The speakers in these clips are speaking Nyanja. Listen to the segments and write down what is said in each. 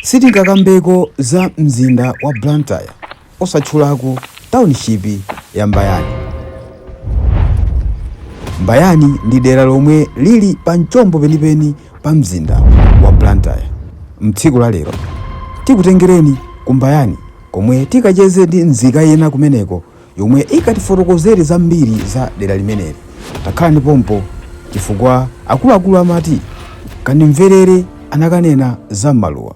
Sitingakambeko za mzinda wa Blantyre osatchulako township ya Mbayani. Mbayani ndi dera lomwe lili pa mchombo penipeni pa mzinda wa Blantyre. M'tsiku la lero tikutengereni ku Mbayani komwe tikacheze ndi nzika ina kumeneko yomwe ikatifotokozere zambiri za dera limeneli. Takhalani pompo chifukwa akuluakulu amati kandimverere anakanena za m'maluwa.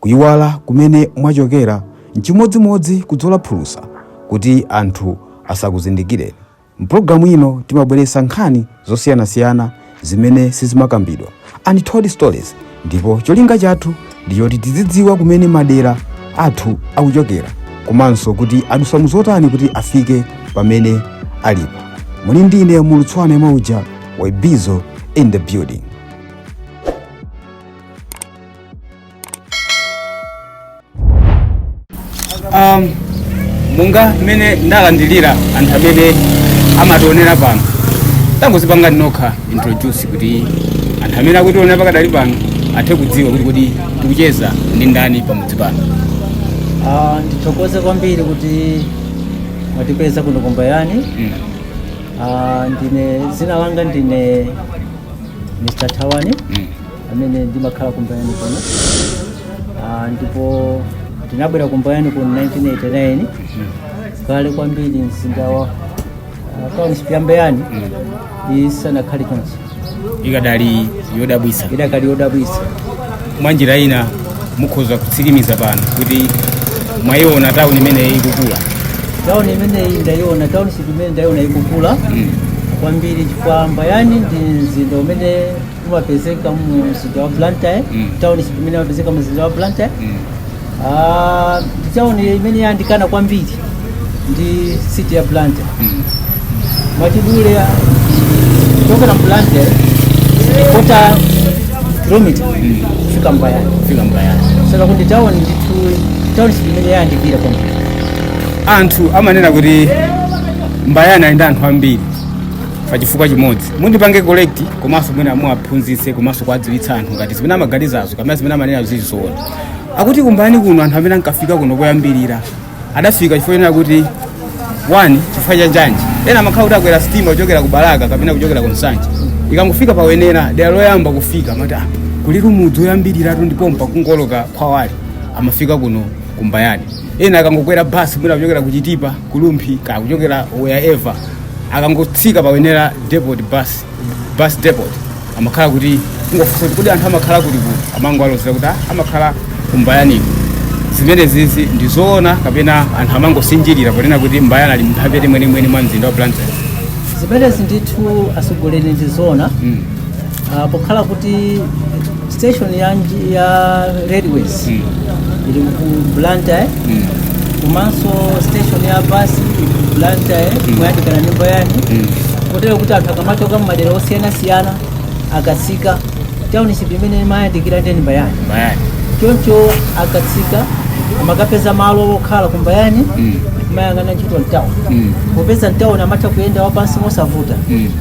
Kuyiwala kumene mwachokera n'chimodzimodzi kudzola phulusa kuti anthu asakuzindikireni. M'pulogalamu ino timabweretsa nkhani zosiyanasiyana zimene sizimakambidwa untold stories ndipo cholinga chathu ndi choti tizidziwa kumene madera athu akuchokera komanso kuti adusa muzotani kuti afike pamene alipo muli ndi ine Mulutswana Mauja wa Bizo in the building um, monga mmene ndalandilira anthu amene amationera pano tangozipangani nokha introduce kuti anthu amene akutionera pakadali pano athe kudziwa kuti kodi tikucheza ndi ndani pamudzi pano Ah, ndithokoze kwambiri kuti mwatipeza kuno kumbayani mm. Ah, ndine zina langa ndine Mr Thawani mm. amene ndimakhala kumbayani kuno Ah, ndipo ndinabwera kumbayani kuno 1989 kale kwambiri mzinda wa ah, township ya mbayani isanakhale chonchi ikadali yodabwisa idakali yodabwisa mwa njira ina mukhoza kutsimikiza pano kuti mwayiona tauni imene ikukula tauni imene ndayiona township imene ndayiona ikukula kwambiri chifukwa mbayani ndi mzinda umene umapezeka mu mzinda wa blantyre Mm. township imene imapezeka mu mzinda wa blantyre Mm. Ah, ndi town imene yandikana kwambiri ndi city ya blantyre Mm. mwachidule kuchokera mu blantyre kota kilomita Mm. kufika mbayani Fika mbayani. so kuti town ndithu township imene yayandikira kwambiri anthu amanena kuti mbayani ali ndi anthu ambiri pa chifukwa chimodzi mundipange correct komanso mwina muwaphunzitse komanso kuwadziwitsa anthu ngati zimene amaganizazo kapena zimene amanena zili zoona akuti kumbayani kuno anthu amene ankafika kuno koyambirira adafika chifukwa chonena kuti one chifukwa cha njanji ena amakhala kuti akwera sitima kuchokera ku balaka kapena kuchokera ku nsanje ikangofika pa Wenela dera loyamba kufika amati ah, kulitu mudzi woyambiriratu ndipo mpokungooloka khwawali amafika kuno kumbayani ena akangokwera basi mwina kuchokera kuchitipa ku Rumphi kaya kuchokera wherever akangotsika pa wenera depot bus bus depot amakhala kuti kungofunsa kuti kodi anthu amakhala kuti kuti amangowalozera kuti "Ah, amakhala kumbayani zimenezizi ndi zoona kapena anthu amangosinjirira ponena kuti mbayana ali mphepete mwenimweni mwa mzinda wa blantyre zimenezi ndithu atsogoleri ndi zoona Mm. Ah, pokhala kuti station ya, nji- ya railways Mm. ili ku blantyre Mm. komanso station ya basi ili ku blantyre moyandikana ndi mbayani Mm. kotero kuti anthu akamachoka mmadera osiyanasiyana akatsika township imene imayandikira ndi ndi mbayani Bayani. choncho akatsika amakapeza malo okhala kumbayani Mm. kumayang'ana ntchito mtauni Mm. popeza mtauni amatha kuyenda wapansi mosavuta Mm.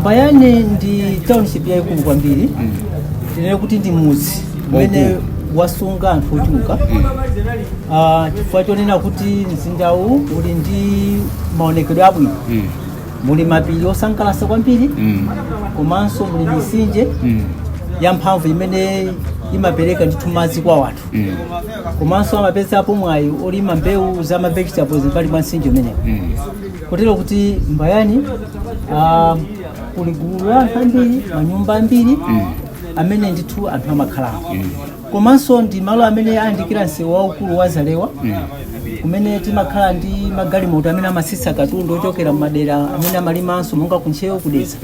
mbayani ndi township yayikulu kwambiri tinene kuti ndi mudzi umene wasunga anthu ochuluka Ah, chifukwa chonena kuti mzindawu uli ndi maonekedwe abwino muli mapiri osangalatsa kwambiri komanso muli misinje ya mphamvu imene imapereka ndithu madzi kwa wanthu komanso amapezapo mwayi olima mbewu za ma vegetables mmbali mwa msinje umenewu kotero kuti mbayani ah, kuli gulu la anthu ambiri manyumba ambiri amene ndithu anthu amakhalako komanso ndi malo amene ayandikira msewu waukulu wa zalewa kumene timakhala ndi magalimoto amene amasitsa katundu ochokera mmadera amene amalimanso monga kuntcheu kudeza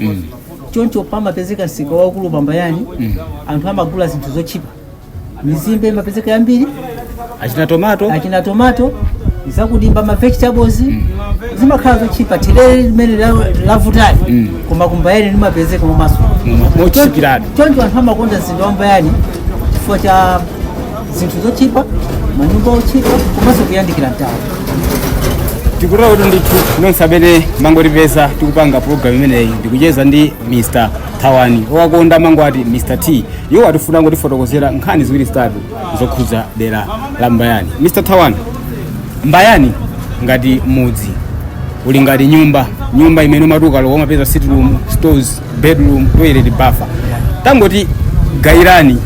choncho pamapezeka msika waukulu pambayani anthu amagula zinthu zotchipa mizimbe imapezeka yambiri achina tomato zakudimba ma vegetables zimakhala zotchipa therere limene la- lavutali Mm. koma kumbayani limapezeka mumaso mochipiratu choncho anthu amakonda mzinda wa mbayani chifukwa cha zinthu zotchipa manyumba otchipa komanso kuyandikira mtauni tikutera kuti ndithu nonse amene mangotipeza tikupanga programu imeneyi ndikucheza ndi mr thawani owakonda mangwati mr t iwo atifuna kungotifotokozera nkhani ziwiri zitatu zokhudza dera la mbayani mr thawani mbayani ngati mudzi uli ngati nyumba nyumba imene umati ukalowa umapeza sitting room stores bedroom toilet bafa tangoti gayirani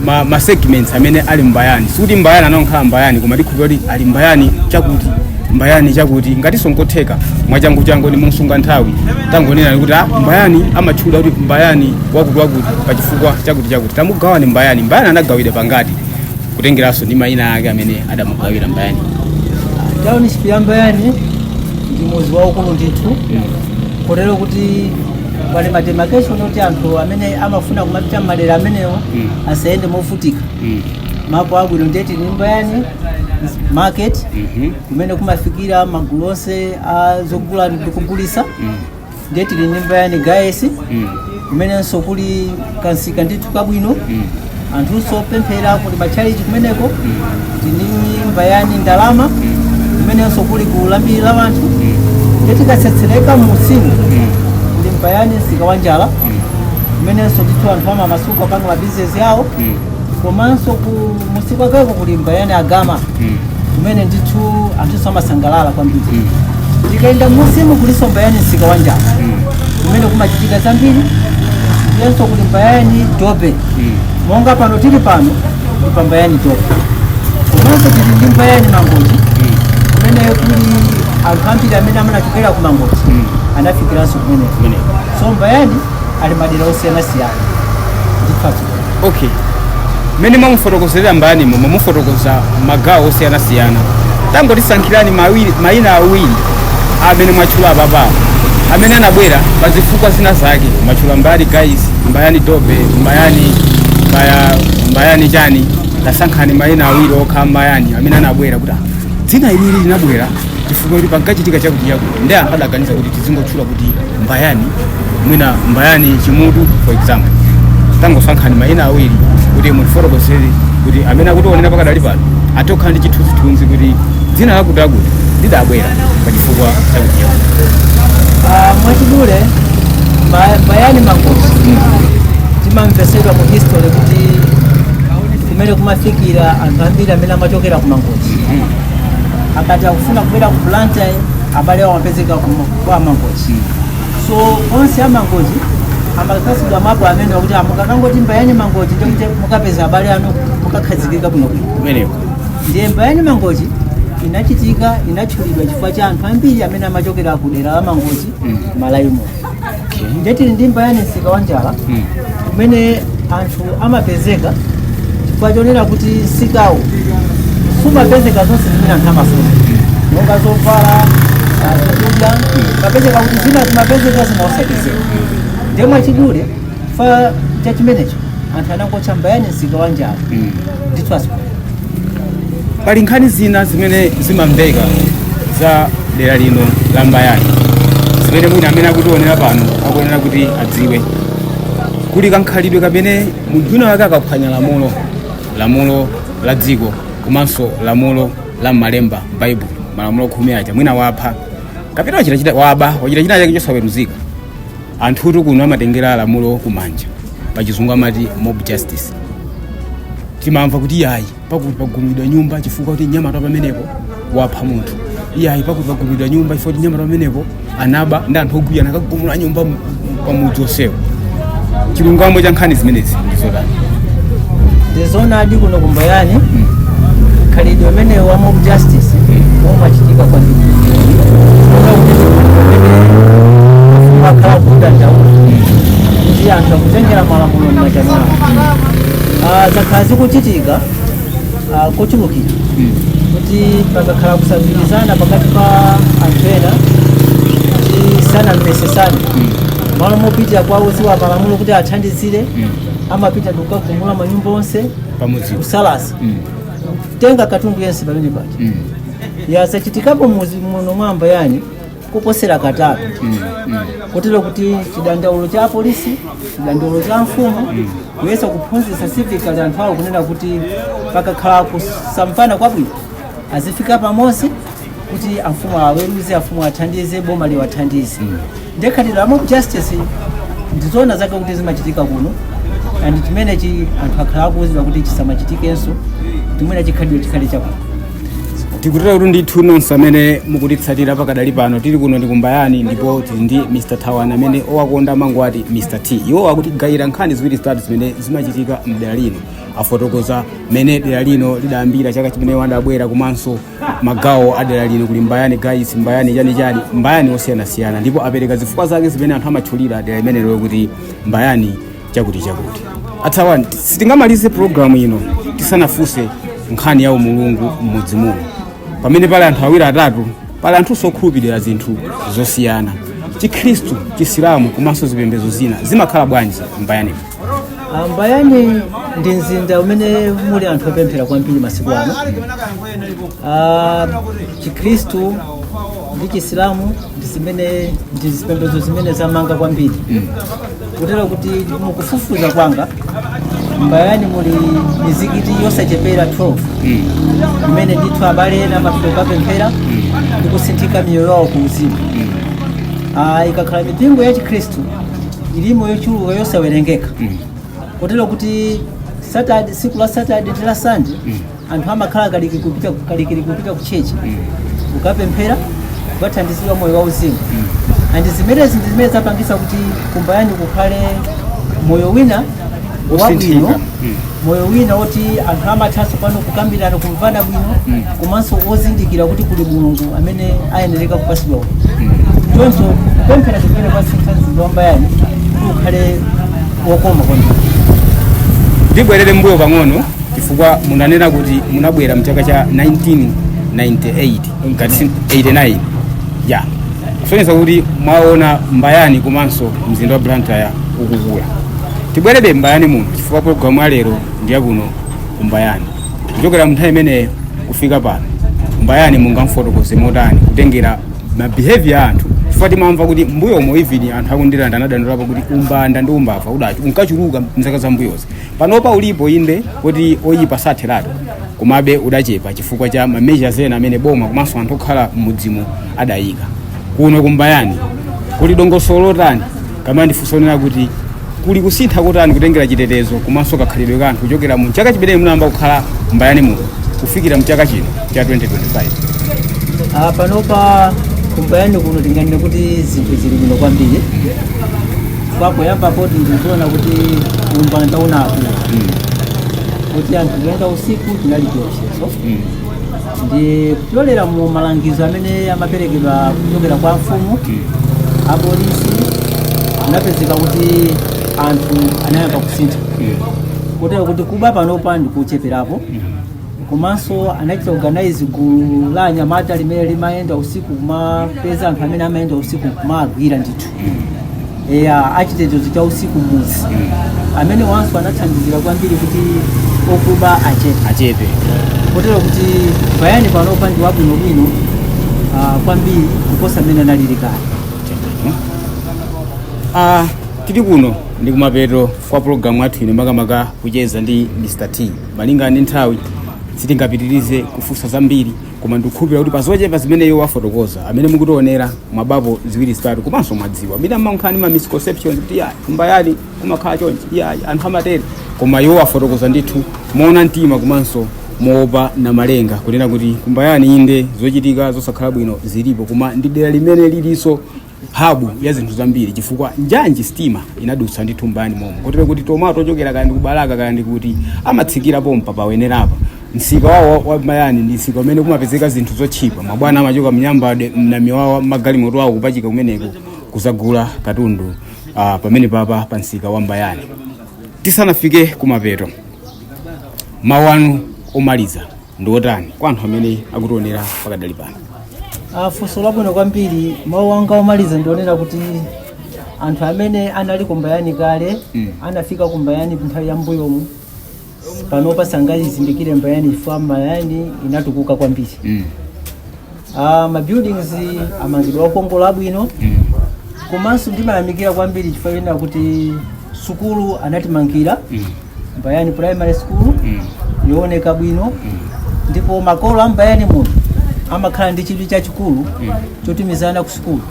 ma, ma segments amene ali mbayani sikuti mbayani anangokhala mbayani koma tikhupira kuti ali mbayani chakuti mbayani chakuti ngatinso nkotheka mwachangu changu ndi mosunga nthawi tangonena kuti ah, mbayani amatchula kuti mbayani wakuti wakuti pa chifukwa chakuti chakuti tamugawaneni mbayani mbayani anagawidwa pangati kutengeranso ndi mayina ake amene adamugawira mbayani township ya mbayani ndi mudzi waukulu ndithu kotero kuti pali mademarcation oti anthu amene amafuna kumapita mmadera amenewo Mm. asayende movutika Mm. mapu abwino nde tili ndi mbayani market Mhm. kumene kumafikira magulu onse ozagula ndi kugulitsa Mm. ndiye tili ndi mbayani gayesi kumenenso kuli kamsika ndithu kabwino anthunso opemphera kuli matchalichi kumeneko tili ndi mbayani ndalama kumenenso kuli nkhulambiri la wanthu ndiye tikatsetsereka m'munsimu ndi mbayani msika wa njala kumenenso ndithu anthu amamasuka panga mabizinesi awo komanso kumunsi kwakeko kuli mbayani agama Mm. kumene ndithu anthu amasangalala kwambiri Mm. tikayenda m'munsimu kulinso mbayani msika wa njala Mm. kumene kumachitika zambiri ndiyenso kuli mbayani dobe Mm. monga pano tili pano ndi pa mbayani dobe komanso tili ndi mbayani mangochi Mm. kumene kuli anthu ambiri amene anachokera ku mangochi Mm. anafikiranso kumeneko Kumeneko. so mbayani ili ndi madera osiyanasiyana ndi phatso okay mmene mwamufotokozerera mbayani mwamufotokoza magawo osiyanasiyana tangotisankhirani mawiri- mayina awiri amene mwatchula apapawo amene anabwera pa zifukwa zina zake mwatchula mbayani gayesi mbayani dobe mbayani mbaya mbayani chani tasankhani mayina awiri okha mbayani amene anabwera kuti "Ah, dzina ilili linabwera chifukwa kuti pankachitika chakuti chakuti nde anthu adaganiza kuti tizingotchula kuti mbayani mwina mbayani chimutu for example tangosankhani mayina awiri kuti mutifotokozere kuti amene akutiwonera pakadali pano athe kukhala ndi chithunzithunzi kuti dzina lakuti akuti lidabwera pa chifukwa chakuti Ah, mwachidule Mba- mbayani mangochi timamvetsedwa mu history kuti kumene kumafikira anthu ambiri amene amachokera ku mangochi akati akufuna kubwera ku blantyre abale awo amapezeka ku kwa amangochi so onse amangochi amapatsidwa mapu amene kuti mukakangoti mbayani mangochi ndikuti mukapeza abale anu mukakhazikika bwino bwino kumeneko ndiye mbayani mangochi inachitika inatchulidwa chifukwa cha anthu ambiri amene amachokera ku dera la mangochi malaimo okay. ndiye tili ndi mbayani msika wa njala Mm. kumene anthu amapezeka chifukwa chonena kuti msikawo simapezeka zonse zimene anthu amafuna monga zovala ah, zakudya mumapeza kuti zina zimapezeka zina osapezeka ndiye mwachidule fa cha chimenecho anthu anangotcha mbayani msika wa njala ndithu asiku pali nkhani zina zimene zimamveka za dera lino la mbayani zimene mwina amene akutionera pano akuyenera kuti adziwe kuli kankhalidwe kamene munthu wina wake akaphwanya lamulo lamulo la dziko komanso lamulo la malemba baibulo malamulo khumi aja mwina wapha kapena wachitachita waba wachita chinachake chosaweruzika anthutu kuno amatengera lamulo kumanja pachizungu amati mob justice timamva kuti iyayi pakuti pagumidwa nyumba chifukwa kuti mnyamata pamenepo wapha munthu iyayi pakuti pagumidwa nyumba chifukwa kuti mnyamata pamenepo anaba nde anthu ogwirizana akagumula nyumba m- pamudzi onsewo chilungamo cha nkhani zimenezi ndi zotani ndizonadi kuno ku mbayani khalidwe umene wa mob justice umachitika kwambiri umakhala kudandaula kuti anthu akutengera malamulo m'manja mwawo Ah, zakhala zikuchitika ah, kochulukira kuti pakakhala kusagwirizana pakati pa anthu ena kuti sanamvesesane malo mopitira kwa odziwa malamulo kuti athandizire amapita ndikukagumula manyumba onse pamudzi kusalasa Mm. kutenga katundu yense pamene paja Mm. yazachitikapo muzi muno mwa mbayani kuposera katatu kotero kuti chidandaulo cha apolisi chidandaulo cha mfumu kuyesa kuphunzitsa sivikali anthu awo kunena kuti pakakhala kusamvana kwabwino azifika pamodzi kuti amfumu aweruze amfumu athandize boma liwathandize nde khalidwe la mob justice ndizoona zake kuti zimachitika kuno and chimenechi anthu akhala akuuzidwa kuti chisamachitikenso chimene chikhalidwe chikhale chakuno tikutero kuti ndithu nonse amene mukutitsatira pakadali pano tili kuno ndi ku mbayani ndipo tili ndi mr thawani amene owakonda amangoti mr t iwo akutigayira nkhani ziwiri zitatu zimene zimachitika mdera lino afotokoza mmene dera lino lidayambira chaka chimene iwo adabwera komanso magawo a dera lino kuli mbayani gaisi mbayani chani chani mbayani osiyanasiyana ndipo apereka zifukwa zake zimene anthu amatchulira dera limenelo kuti mbayani chakuti chakuti a thawani sitingamalize pulogalamu ino tisanafunse nkhani ya umulungu m'mudzi muno pamene pali anthu awiri atatu pali anthunso okhulupirira zinthu zosiyana chikhristu chisilamu komanso zipembedzo zina zimakhala bwanji mbayani Ah, mbayani ndi mzinda umene muli anthu opemphera kwambiri masiku ano Ah, chikhristu ndi chisilamu ndi zipembedzo zimene zamanga kwambiri kotero kuti mukufufuza kwanga mbayani muli mizikiti yosachepera 12 imene ndithu abale ena amapita kukapemphera ndi kusinthika miyoyo yawo ku uzimu Ah, ikakhala mipingo ya chikhristu ilimo yochuluka yosawerengeka kotero kuti Saturday, tsiku la Saturday ndi la Sunday anthu amakhala kalikiliki kupita ku chechi kukapemphera kukathandizidwa moyo wa uzimu and zimenezi ndi zimene zapangitsa kuti kumbayani kukhale moyo wina wabwino Wosinthika. Mm. moyo wina woti anthu amathanso pano kukambirana kumvana bwino komanso ozindikira kuti kuli mulungu amene ayenereka kupatsidwa ulemu choncho kupemphera kumene kwasintha mzinda wambayani kuti ukhale wokoma kwambiri ndibwerere mbuyo pang'ono chifukwa munanena kuti munabwera mchaka cha 1998 ngati si 89 eya kusonyeza kuti mwaona mbayani komanso mzinda wa blantyre ukukula tibwerebe mbayani muno chifukwa programu ya lero ndi yakuno kumbayani kuchokera mnthawi imeneyo kufika pano mbayani mungamfotokoze motani kutengera mabehavior a anthu chifukwa timamva kuti mbuyomo even anthu aku Ndirande anadandaulapo kuti umbanda ndi umbava udati unkachuluka mzaka za mbuyozi panopa ulipo inde kuti oyipa satheratu komabe udachepa chifukwa cha mameasures ena amene boma komanso anthu okhala m'mudzimo adayika kuno kumbayani kuli dongosolo lotani kapena ndifunse kunena kuti kuli kusintha kotani kutengera chitetezo komanso kakhalidwe ka anthu kuchokera mu chaka chimene munayamba kukhala mbayani muno kufikira mchaka chino cha 2025 Ah, panopa kumbayani kuno tinganene kuti zinthu zili bwino kwambiri kusiyana poyamba poti ndizoona kuti umbanda unakula kuti anthu kuyenda usiku chinali chiopsezo ndi kupyolera mu malangizo amene amaperekedwa kuchokera kwa mfumu apolisi anapezeka kuti anthu anayamba kusintha kotero kuti kuba panopa ndikucheperapo komanso anachita organize gulu la anyamata limene limayenda usiku kumapeza anthu amene amayenda usiku kumagwira ndithu eya achitetezo cha usiku mmudzi amenewanso anathandizira kwambiri kuti okuba achepe achepe kotero kuti mbayani panopa ndi wabwinobwino ah, kwambiri kuposa mmene analili kale Ah, tili kuno ndi kumapeto kwa pulogalamu yathu ino makamaka kucheza ndi mr t malingana ndi nthawi sitingapitirize kufunsa zambiri koma ndikukhulupira kuti pazochepa zimene iwo wafotokoza amene mukutionera mwabapo ziwiri zitatu komanso mwadziwa mina mmankhani ma misconceptions kuti iyayi kumbayani kumakhala chonchi iyayi anthu amatero koma iwo wafotokoza ndithu moona mtima komanso moopa namalenga kunena kuti kumbayani inde zochitika zosakhala bwino zilipo koma ndi dera limene lilinso hub ya zinthu zambiri chifukwa njanji sitima inadutsa ndithu mbayani momo kotero kuti tomato ochokera kaya ndi ku balaka kaya ndi kuti amatsikira pompa pawenerapa msika wawo wa- wa mbayani ndi msika umene kumapezeka zinthu zotchipa mabwana amachoka mnyambade mnamiwawa magalimoto awo kupachika kumeneko kuzagula katundu uh, pamene papa pa msika wa mbayani tisanafike kumapeto mawu anu omaliza ndi otani kwa anthu amene akutionera pakadali pano Ah, funso labwino kwambiri mawu anga omaliza ndi onena kuti anthu amene anali kumbayani kale Mm. anafika kumbayani nthawi ya mbuyomu panopa sangaizindikire mbayani chifukwa mbayani inatukuka kwambiri mm. Ah, ma buildings amangidwa okongola abwino komanso ndimayamikira kwambiri chifukwa chonena kuti sukulu anatimangira mbayani primary school yooneka bwino ndipo makolo a mbayani muno amakhala ndi chidwi chachikulu chotumiza ana ku sukulu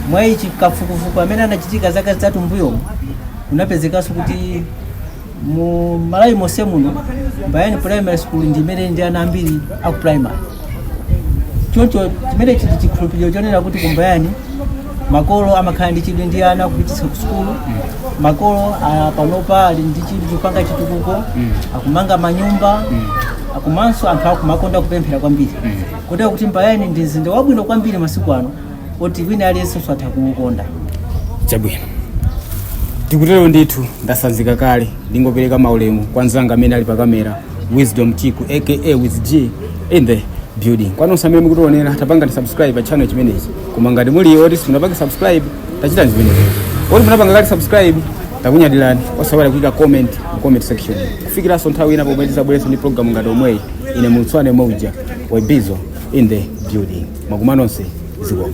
mwa ichi kafukufuku amene anachitika zaka zitatu mbuyomu kunapezekanso kuti mu malawi monse muno mbayani primary school ndi imene ndi ana ambiri aku primary choncho chimenechi ndi chikhulupiriro chonena kuti kumbayani makolo amakhala ndi chidwi ndi ana kupititsa ku sukulu makolo ah, panopa ali ndi chidwi chopanga chitukuko akumanga manyumba komanso anthu akumakonda kupemphera kwambiri kotero kuti mbayani ndi mzinda wabwino kwambiri masiku ano oti wina aliyense atha kuukonda chabwino tikutero ndithu ndasanzika kale ndingopereka maulemu kwa mzanga amene ali pa kamera wisdom chiku aka with g in the building kwa nonse amene mukutionera tapangani subscribe pa channel chimenechi koma ngati muli oti simunapanga subscribe tachitani zimenezo oti munapanga kale subscribe takunyadirani osaiwala kuika comment mu comment section kufikiranso nthawi ina pomwe tizabwerenso ndi program ngati omweyi ine mulutswane mauja webizo in the building. Makoma nonse zikomo.